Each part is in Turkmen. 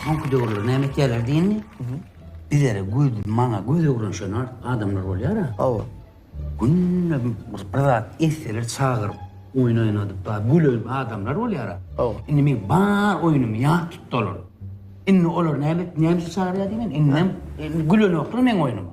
Soňky döwürler näme etýärler diýeni, bizlere göz, maňa göz öwren şon adamlar bolýar-a. Hawa. Günde bir zat etseler çagyryp, oýun oýnadyp, ba, gülen adamlar bolýar-a. Hawa. Indi men bar oýnumy ýat tutdy olar. Indi olar näme et, näme üçin çagyrýar diýmen, indem, indi gülenoklar meň oýnumy.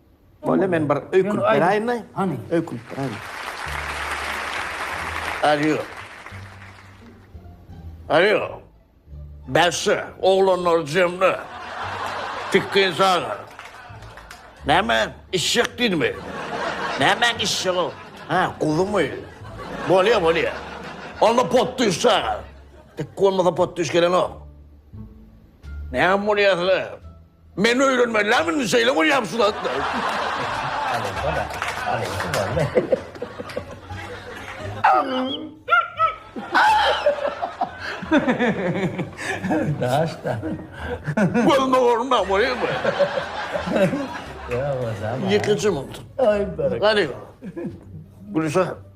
Bolýa, men bir öýkünip beräýin-le. Hany. Öýkünip beräýin. Alýo. Alýo. Bäsdi, oglanlary jemle. Tikgin çagyr. Näme, içjek diýdimi? Nämäň içjegi? Hä, guzymy? Bolýa, bolýa. Onda potdüş çagyr. Tikgi bolmasa potdüş gelenok. Näme bolýa size? Men öýrenmeliläm indi şeýle bolýam şu zatlar. Daşda. Bolma bolma bolýar bu. Ýa bolsa. Ýekeçim oldu. Aý berek. Gani. Gülşah.